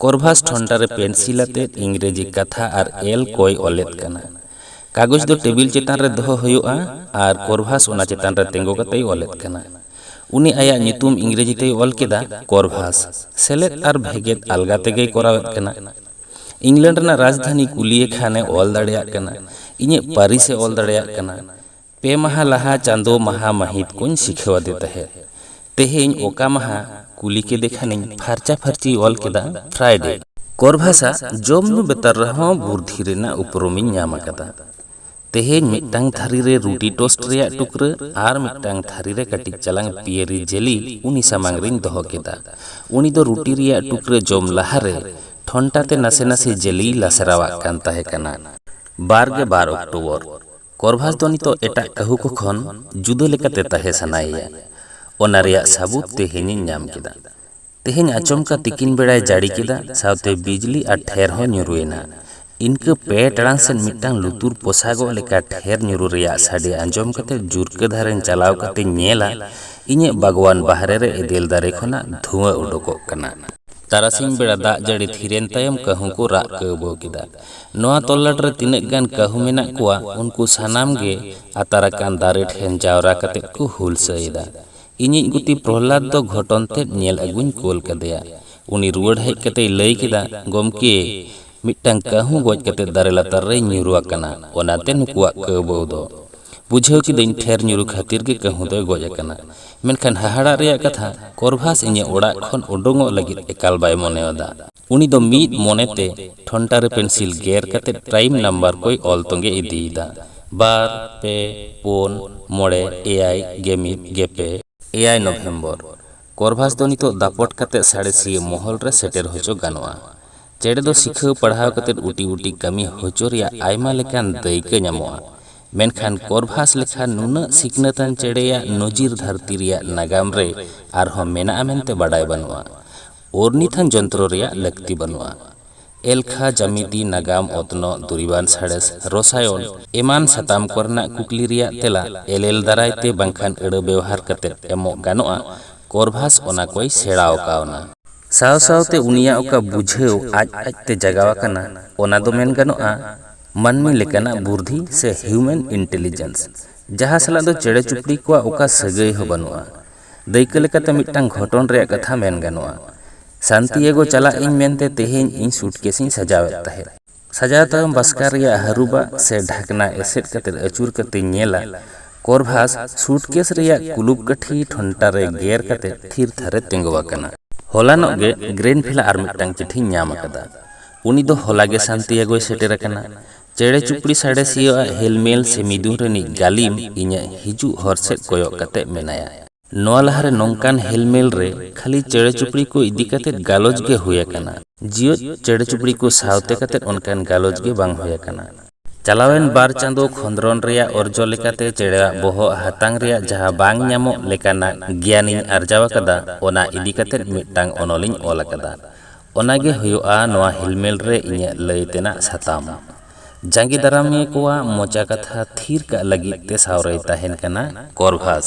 ᱠᱚᱨᱵᱷᱟᱥ ᱴᱷᱚᱱᱴᱟ ᱨᱮ ᱯᱮᱱᱥᱤᱞ ᱟᱛᱮ ᱤᱝᱨᱮᱡᱤ ᱠᱟᱛᱷᱟ ᱟᱨ ᱮᱞ ᱠᱚᱭ ᱚᱞᱮᱫ ᱠᱟᱱᱟ᱾ ᱠᱟᱜᱚᱡᱽ ᱫᱚ ᱴᱮᱵᱤᱞ ᱪᱮᱛᱟᱱ ᱨᱮ ᱫᱚᱦᱚ ᱦᱳᱭᱳᱜᱼᱟ ᱟᱨ ᱠᱚᱨᱵᱷᱟᱥ ᱚᱱᱟ ᱪᱮᱛᱟᱱ ᱨᱮ ᱛᱮᱸᱜᱚ ᱠᱟᱛᱮᱭ ᱚᱞᱮᱫ ᱠᱟᱱᱟ᱾ ᱩᱱᱤ ᱟᱭᱟᱜ ᱧᱩᱛᱩᱢ ᱤᱝᱨᱮᱡᱤ ᱛᱮᱭ ᱚᱞ ᱠᱮᱫᱟ ᱠᱚᱨᱵᱷᱟᱥ᱾ ᱥᱮᱞᱮᱫ ᱟᱨ ᱵᱷᱮᱜᱮᱫ ᱟᱞᱜᱟ ᱛᱮᱜᱮᱭ ᱠᱚᱨᱟᱣᱮᱫ ᱠᱟᱱᱟ᱾ ᱤᱝᱞᱮᱱᱰ ᱨᱮᱱᱟᱜ ᱨᱟᱡᱽᱫᱷᱟᱱᱤ ᱠᱩᱞᱤᱭᱮ ᱠᱷᱟᱱ ᱮ ᱚᱞ ᱫᱟᱲᱮᱭᱟᱜ ᱠᱟᱱᱟ᱾ ᱤᱧᱟᱹᱜ ᱯᱟᱹᱨᱤᱥ ᱮ ᱚᱞ ᱫᱟᱲᱮᱭᱟᱜ ᱠᱟᱱᱟ᱾ ᱯᱮ ᱢᱟᱦᱟᱸ ᱞᱟᱦᱟ ᱪᱟᱸᱫᱚ ᱢᱟᱦᱟᱸ ᱢᱟᱹᱦᱤᱛ ᱠᱚᱧ ᱥᱤᱠᱷᱟᱹᱣ ᱟᱫᱮ ᱛᱟᱦᱮᱸᱫ᱾ ᱛᱮᱦᱮᱧ ᱚᱠᱟ ᱢᱟᱦᱟᱸ? ᱠᱩᱞᱤ ᱠᱮᱫᱮ ᱠᱷᱟᱱᱤᱧ ᱯᱷᱟᱨᱪᱟ ᱯᱷᱟᱨᱪᱤᱭ ᱚᱞ ᱠᱮᱫᱟ ᱯᱷᱨᱟᱭᱰᱮ᱾ ᱠᱚᱨᱵᱷᱟᱥᱟ ᱡᱚᱢ ᱧᱩ ᱵᱮᱛᱟᱨ ᱨᱮᱦᱚᱸ ᱵᱩᱨᱫᱷᱤ ᱨᱮᱱᱟᱜ ᱩᱯᱨᱩᱢᱤᱧ ᱧᱟᱢ ᱟᱠᱟᱫᱟ᱾ ᱛᱮᱦᱮᱧ ᱢᱤᱫᱴᱟᱝ ᱛᱷᱟᱹᱨᱤ ᱨᱮ ᱨᱩᱴᱤ ᱴᱳᱥᱴ ᱨᱮᱭᱟᱜ ᱴᱩᱠᱨᱟᱹ ᱟᱨ ᱢᱤᱫᱴᱟᱝ ᱛᱷᱟᱹᱨᱤ ᱨᱮ ᱠᱟᱹᱴᱤᱡ ᱪᱟᱞᱟᱝ ᱯᱤᱭᱮᱨᱤ ᱡᱮᱞᱤ ᱩᱱᱤ ᱥᱟᱢᱟᱝ ᱨᱮᱧ ᱫᱚᱦᱚ ᱠᱮᱫᱟ᱾ ᱩᱱᱤ ᱫᱚ ᱨᱩᱴᱤ ᱨᱮᱭᱟᱜ ᱴᱩᱠᱨᱟᱹ ᱡᱚᱢ ᱞᱟᱦᱟ ᱨᱮ ᱴᱷᱚᱱᱴᱟ ᱛᱮ ᱱᱟᱥᱮ ᱱᱟᱥᱮ ᱡᱮᱞᱤᱭ ᱞᱟᱥᱮᱨᱟᱣᱟᱜ ᱠᱟᱱ ᱛᱟᱦᱮᱸ ᱠᱟᱱᱟ᱾ ᱵᱟᱨ ᱜᱮ ᱵᱟᱨ ᱚᱠᱴᱳᱵᱚᱨ ᱠᱚᱨᱵᱷᱟᱥ ᱫᱚ ᱱᱤᱛᱚᱜ ᱮᱴᱟᱜ ᱠᱟᱹᱦᱩ ᱠᱚ ᱠᱷᱚᱱ ᱡᱩᱫᱟᱹ ᱞᱮᱠᱟᱛᱮ ᱛᱟᱦᱮᱸ ᱥᱟᱱᱟᱭᱮᱭᱟ᱾ ᱚᱱᱟ ᱨᱮᱭᱟᱜ ᱥᱟᱹᱵᱩᱫᱽ ᱛᱮᱦᱮᱧᱤᱧ ᱧᱟᱢ ᱠᱮᱫᱟ᱾ ᱛᱮᱦᱮᱧ ᱟᱪᱚᱢᱠᱟ ᱛᱤᱠᱤᱱ ᱵᱮᱲᱟᱭ ᱡᱟᱹᱲᱤ ᱠᱮᱫᱟ ᱥᱟᱶᱛᱮ ᱵᱤᱡᱽᱞᱤ ᱟᱨ ᱴᱷᱮᱨ ᱦᱚᱸ ᱧᱩᱨᱩ ᱮᱱᱟ᱾ ᱤᱱᱠᱟᱹ ᱯᱮ ᱴᱟᱲᱟᱝ ᱥᱮᱫ ᱢᱤᱫᱴᱟᱝ ᱞᱩᱛᱩᱨ ᱯᱚᱥᱟᱜᱚᱜ ᱞᱮᱠᱟ ᱴᱷᱮᱨ ᱧᱩᱨᱩ ᱨᱮᱭᱟᱜ ᱥᱟᱰᱮ ᱟᱸᱡᱚᱢ ᱠᱟᱛᱮ ᱡᱩᱨᱠᱟᱹ ᱫᱷᱟᱨᱮᱧ ᱪᱟᱞᱟᱣ ᱠᱟᱛᱮᱧ ᱧᱮᱞᱟ ᱤᱧᱟᱹᱜ ᱵᱟᱜᱽᱣᱟᱱ ᱵᱟᱦᱨᱮ ᱨᱮ ᱮᱫᱮᱞ ᱫᱟᱨᱮ ᱠᱷᱚᱱᱟᱜ ᱫᱷᱩᱶᱟᱹ ᱚᱰᱚᱠᱚᱜ ᱠᱟᱱᱟ᱾ ᱛᱟᱨᱟᱥᱤᱧ ᱵᱮᱲᱟ ᱫᱟᱜ ᱡᱟᱹᱲᱤ ᱛᱷᱤᱨᱮᱱ ᱛᱟᱭᱚᱢ ᱠᱟᱹᱦᱩ ᱠᱚ ᱨᱟᱜ ᱠᱟᱹᱣᱵᱟᱹᱣ ᱠᱮᱫᱟ᱾ ᱱᱚᱣᱟ ᱛᱚᱞᱞᱟᱴ ᱨᱮ ᱛᱤᱱᱟᱹᱜ ᱜᱟᱱ ᱠᱟᱹᱦᱩ ᱢᱮᱱᱟᱜ ᱠᱚᱣᱟ ᱩᱱᱠᱩ ᱥᱟᱱᱟᱢ ᱜᱮ ᱟᱛᱟᱨ ᱟᱠᱟᱱ ᱫᱟᱨᱮ ᱴᱷᱮᱱ ᱡᱟᱣᱨᱟ ᱠᱟᱛᱮ ᱠᱚ ᱦᱩᱞᱥᱟᱹ ᱮᱫᱟ᱾ ᱤᱧᱤᱡ ᱜᱩᱛᱤ ᱯᱨᱚᱦᱞᱟᱫᱽ ᱫᱚ ᱜᱷᱚᱴᱚᱱ ᱛᱮᱫ ᱧᱮᱞ ᱟᱹᱜᱩᱧ ᱠᱳᱞ ᱠᱟᱫᱮᱭᱟ᱾ ᱩᱱᱤ ᱨᱩᱣᱟᱹᱲ ᱦᱮᱡ ᱠᱟᱛᱮᱭ ᱞᱟᱹᱭ ᱠᱮᱫᱟ, ᱜᱚᱢᱠᱮ, ᱢᱤᱫᱴᱟᱝ ᱠᱟᱹᱦᱩ ᱜᱚᱡ ᱠᱟᱛᱮ ᱫᱟᱨᱮ ᱞᱟᱛᱟᱨ ᱨᱮᱭ ᱧᱩᱨᱩ ᱟᱠᱟᱱᱟ, ᱚᱱᱟᱛᱮ ᱱᱩᱠᱩᱣᱟᱜ ᱠᱟᱹᱣᱵᱟᱹᱣ ᱫᱚ᱾ ᱵᱩᱡᱷᱟᱹᱣ ᱠᱤᱫᱟᱹᱧ ᱴᱷᱮᱨ ᱧᱩᱨᱩ ᱠᱷᱟᱹᱛᱤᱨ ᱜᱮ ᱠᱟᱹᱦᱩ ᱫᱚᱭ ᱜᱚᱡ ᱟᱠᱟᱱᱟ᱾ ᱢᱮᱱᱠᱷᱟᱱ ᱦᱟᱦᱟᱲᱟᱜ ᱨᱮᱭᱟᱜ ᱠᱟᱛᱷᱟ, ᱠᱚᱨᱵᱷᱟᱥ ᱤᱧᱟᱹᱜ ᱚᱲᱟᱜ ᱠᱷᱚᱱ ᱳᱰᱳᱝᱚᱜ ᱞᱟᱹᱜᱤᱫ ᱮᱠᱟᱞ ᱵᱟᱭ ᱢᱚᱱᱮᱣᱟᱫᱟ᱾ ᱩᱱᱤ ᱫᱚ ᱢᱤᱫ ᱢᱚᱱᱮ ᱛᱮ ᱴᱷᱚᱱᱴᱟ ᱨᱮ ᱯᱮᱱᱥᱤᱞ ᱜᱮᱨ ᱠᱟᱛᱮ ᱯᱨᱟᱭᱤᱢ ᱱᱟᱢᱵᱟᱨ ᱠᱚᱭ ᱚᱞ ᱛᱚᱸᱜᱮ ᱤᱫᱤᱭᱮᱫᱟ᱾ ᱵᱟᱨ, ᱯᱮ, ᱯᱳᱱ, ᱢᱚᱬᱮ, ᱮᱭᱟᱭ, ᱜᱮᱢᱤᱫ, ᱜᱮᱯᱮ᱾ ᱮᱭᱟᱭ ᱱᱚᱵᱷᱮᱢᱵᱚᱨ᱾ ᱠᱚᱨᱵᱷᱟᱥ ᱫᱚ ᱱᱤᱛᱚᱜ ᱫᱟᱯᱚᱴ ᱠᱟᱛᱮ ᱥᱟᱬᱮᱥᱤᱭᱟᱹ ᱢᱚᱦᱚᱞ ᱨᱮ ᱥᱮᱴᱮᱨ ᱦᱚᱪᱚ ᱜᱟᱱᱚᱜᱼᱟ᱾ ᱪᱮᱬᱮ ᱫᱚ ᱥᱤᱠᱷᱟᱹᱣ ᱯᱟᱲᱦᱟᱣ ᱠᱟᱛᱮ ᱩᱴᱤ ᱩᱴᱤ ᱠᱟᱹᱢᱤ ᱦᱚᱪᱚ ᱨᱮᱭᱟᱜ ᱟᱭᱢᱟ ᱞᱮᱠᱟᱱ ᱫᱟᱹᱭᱠᱟᱹ ᱧᱟᱢᱚᱜᱼᱟ᱾ ᱢᱮᱱᱠᱷᱟᱱ ᱠᱚᱨᱵᱷᱟᱥ ᱞᱮᱠᱷᱟ ᱱᱩᱱᱟᱹᱜ ᱥᱤᱠᱷᱱᱟᱹᱛᱟᱱ ᱪᱮᱬᱮᱭᱟᱜ ᱱᱚᱡᱤᱨ ᱫᱷᱟᱹᱨᱛᱤ ᱨᱮᱭᱟᱜ ᱱᱟᱜᱟᱢ ᱨᱮ ᱟᱨᱦᱚᱸ ᱢᱮᱱᱟᱜᱼᱟ ᱢᱮᱱᱛᱮ ᱵᱟᱰᱟᱭ ᱵᱟᱹᱱᱩᱜᱼᱟ᱾ ᱳᱨᱱᱤᱛᱷᱟᱱ ᱡᱚᱱᱛᱨᱚ ᱨᱮᱭᱟᱜ ᱞᱟᱹᱠᱛᱤ ᱵᱟᱹᱱᱩᱜᱼᱟ᱾ ᱮᱞᱠᱷᱟ, ᱡᱟᱢᱤᱛᱤ, ᱱᱟᱜᱟᱢ, ᱚᱛᱱᱚᱜ, ᱫᱩᱨᱤᱵᱟᱱ ᱥᱟᱬᱮᱥ, ᱨᱚᱥᱟᱭᱚᱱ ᱮᱢᱟᱱ ᱥᱟᱛᱟᱢ ᱠᱚᱨᱮᱱᱟᱜ ᱠᱩᱠᱞᱤ ᱨᱮᱭᱟᱜ ᱛᱮᱞᱟ ᱮᱞᱮᱞ ᱫᱟᱨᱟᱭ ᱛᱮ ᱵᱟᱝᱠᱷᱟᱱ ᱟᱹᱲᱟᱹ ᱵᱮᱣᱦᱟᱨ ᱠᱟᱛᱮ ᱮᱢᱚᱜ ᱜᱟᱱᱚᱜᱼᱟ᱾ ᱠᱚᱨᱵᱷᱟᱥ ᱚᱱᱟ ᱠᱚᱭ ᱥᱮᱬᱟᱣ ᱠᱟᱣᱱᱟ᱾ ᱥᱟᱶ ᱥᱟᱶᱛᱮ ᱩᱱᱤᱭᱟᱜ ᱚᱠᱟ ᱵᱩᱡᱷᱟᱹᱣ ᱟᱡ ᱟᱡ ᱛᱮ ᱡᱟᱜᱟᱣ ᱟᱠᱟᱱᱟ ᱚᱱᱟ ᱫᱚ ᱢᱮᱱ ᱜᱟᱱᱚᱜᱼᱟ ᱢᱟᱹᱱᱢᱤ ᱞᱮᱠᱟᱱᱟᱜ ᱵᱩᱨᱫᱷᱤ ᱥᱮ ᱦᱤᱣᱢᱮᱱ ᱤᱱᱴᱮᱞᱤᱡᱮᱱᱥ ᱡᱟᱦᱟᱸ ᱥᱟᱞᱟᱜ ᱫᱚ ᱪᱮᱬᱮ ᱪᱩᱯᱲᱤ ᱠᱚᱣᱟᱜ ᱚᱠᱟ ᱥᱟᱹᱜᱟᱹᱭ ᱦᱚᱸ ᱵᱟᱹᱱᱩᱜᱼᱟ᱾ ᱫᱟᱹᱭᱠᱟᱹ ᱞᱮᱠᱟᱛᱮ ᱢᱤᱫᱴᱟᱝ ᱜᱷᱚᱴᱚᱱ ᱨᱮᱭᱟᱜ ᱠᱟᱛᱷᱟ ᱢᱮᱱ ᱜᱟᱱᱚᱜᱼᱟ᱾ ᱥᱟᱱᱛᱤᱭᱮᱜᱳ ᱪᱟᱞᱟᱜ ᱤᱧ ᱢᱮᱱᱛᱮ ᱛᱮᱦᱮᱧ ᱤᱧ ᱥᱩᱴᱠᱮᱥ ᱤᱧ ᱥᱟᱡᱟᱣ ᱮᱫ ᱛᱟᱦᱮᱸᱫ᱾ ᱥᱟᱡᱟᱣ ᱛᱟᱭᱚᱢ ᱵᱟᱥᱠᱟ ᱨᱮᱭᱟᱜ ᱦᱟᱹᱨᱩᱵᱟᱜ ᱥᱮ ᱰᱷᱟᱠᱱᱟ ᱮᱥᱮᱫ ᱠᱟᱛᱮ ᱟᱹᱪᱩᱨ ᱠᱟᱛᱮᱧ ᱧᱮᱞᱟ, ᱠᱚᱨᱵᱷᱟᱥ ᱥᱩᱴᱠᱮᱥ ᱨᱮᱭᱟᱜ ᱠᱩᱞᱩᱯ ᱠᱟᱹᱴᱷᱤ ᱴᱷᱚᱱᱴᱟ ᱨᱮ ᱜᱮᱨ ᱠᱟᱛᱮ ᱛᱷᱤᱨ ᱛᱷᱟᱨ ᱮ ᱛᱮᱸᱜᱚ ᱟᱠᱟᱱᱟ᱾ ᱦᱚᱞᱟᱱᱚᱜ ᱜᱮ ᱜᱨᱮᱱᱵᱷᱤᱞᱟ ᱟᱨ ᱢᱤᱫᱴᱟᱝ ᱪᱤᱴᱷᱤᱧ ᱧᱟᱢ ᱟᱠᱟᱫᱟ᱾ ᱩᱱᱤ ᱫᱚ ᱦᱚᱞᱟ ᱜᱮ ᱥᱟᱱᱛᱤᱭᱮᱜᱳᱭ ᱥᱮᱴᱮᱨ ᱟᱠᱟᱱᱟ᱾ ᱪᱮᱬᱮ ᱪᱩᱯᱲᱤ ᱥᱟᱬᱮᱥᱤᱭᱟᱹ ᱟᱜ ᱦᱮᱞᱢᱮᱞ ᱥᱮ ᱢᱤᱫᱩᱱ ᱨᱤᱱᱤᱡ ᱜᱟᱹᱞᱤᱢ ᱤᱧᱟᱜ ᱦᱤᱡᱩᱜ ᱦᱚᱨ ᱥᱮᱫ ᱠᱚᱭᱚᱜ ᱠᱟᱛᱮ ᱢᱮᱱᱟᱭᱟ᱾ ᱱᱚᱣᱟ ᱞᱟᱦᱟ ᱨᱮ ᱱᱚᱝᱠᱟᱱ ᱦᱮᱞᱢᱮᱞ ᱨᱮ ᱠᱷᱟᱹᱞᱤ ᱪᱮᱬᱮ ᱪᱩᱯᱲᱤ ᱠᱚ ᱤᱫᱤ ᱠᱟᱛᱮ ᱜᱟᱞᱚᱪ ᱜᱮ ᱦᱩᱭ ᱟᱠᱟᱱᱟ᱾ ᱡᱤᱭᱚᱫ ᱪᱮᱬᱮ ᱪᱩᱯᱲᱤ ᱠᱚ ᱥᱟᱶᱛᱮ ᱠᱟᱛᱮ ᱚᱱᱠᱟᱱ ᱜᱟᱞᱚᱪ ᱜᱮ ᱵᱟᱝ ᱦᱩᱭ ᱟᱠᱟᱱᱟ᱾ ᱪᱟᱞᱟᱣᱮᱱ ᱵᱟᱨ ᱪᱟᱸᱫᱚ ᱠᱷᱚᱸᱫᱽᱨᱚᱱ ᱨᱮᱭᱟᱜ ᱚᱨᱡᱚ ᱞᱮᱠᱟᱛᱮ ᱪᱮᱬᱮᱣᱟᱜ ᱵᱚᱦᱚᱜ ᱦᱟᱛᱟᱝ ᱨᱮᱭᱟᱜ ᱡᱟᱦᱟᱸ ᱵᱟᱝ ᱧᱟᱢᱚᱜ ᱞᱮᱠᱟᱱᱟᱜ ᱜᱮᱭᱟᱱᱤᱧ ᱟᱨᱡᱟᱣ ᱟᱠᱟᱫᱟ ᱚᱱᱟ ᱤᱫᱤ ᱠᱟᱛᱮ ᱢᱤᱫᱴᱟᱝ ᱚᱱᱚᱞᱤᱧ ᱚᱞ ᱟᱠᱟᱫᱟ᱾ ᱚᱱᱟ ᱜᱮ ᱦᱩᱭᱩᱜᱼᱟ ᱱᱚᱶᱟ ᱦᱤᱞᱢᱮᱞ ᱨᱮ ᱤᱧᱟᱹᱜ ᱞᱟᱹᱭ ᱛᱮᱱᱟᱜ ᱥᱟᱛᱟᱢ᱾ ᱡᱟᱸᱜᱮ ᱫᱟᱨᱟᱢᱤᱭᱟᱹ ᱠᱚᱣᱟᱜ ᱢᱚᱪᱟ ᱠᱟᱛᱷᱟ ᱛᱷᱤᱨ ᱠᱟᱜ ᱞᱟᱹᱜᱤᱫ ᱛᱮ ᱥᱟᱶ ᱨᱮᱭ ᱛᱟᱦᱮᱸᱱ ᱠᱟᱱᱟ ᱠᱚᱨᱵᱷᱟᱥ᱾